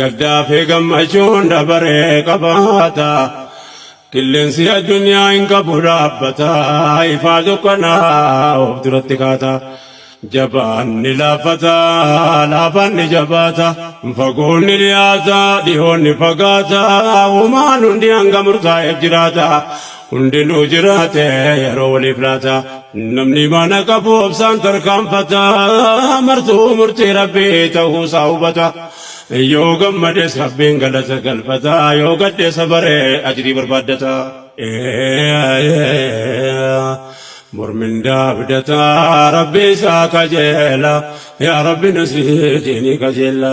Gaddaa fi gammachuun dabaree qabaata. Qilleensi addunyaa hin qabu dhaabbata. Ifaa dukkanaa of duratti kaata. Jabaan ni laaffata, laafaan ni jabaata. Fagoon ni dhiyaata, dhihoon ni fagaata. Uumaan hundi hanga murtaa'eef jiraata. Hundinuu jiraate yeroo waliif laata. Namni mana qabu obsaan tarkaanfata. Martuu murtii Rabbii ta'uu isaa hubata. Yoo gammades Rabbiin galata galfata. Yoo gadde sabare ajrii barbaaddata. Bor mindaa abdata Rabbi isaa kajeela. Yaa Rabbi nu sii diinii kajeella.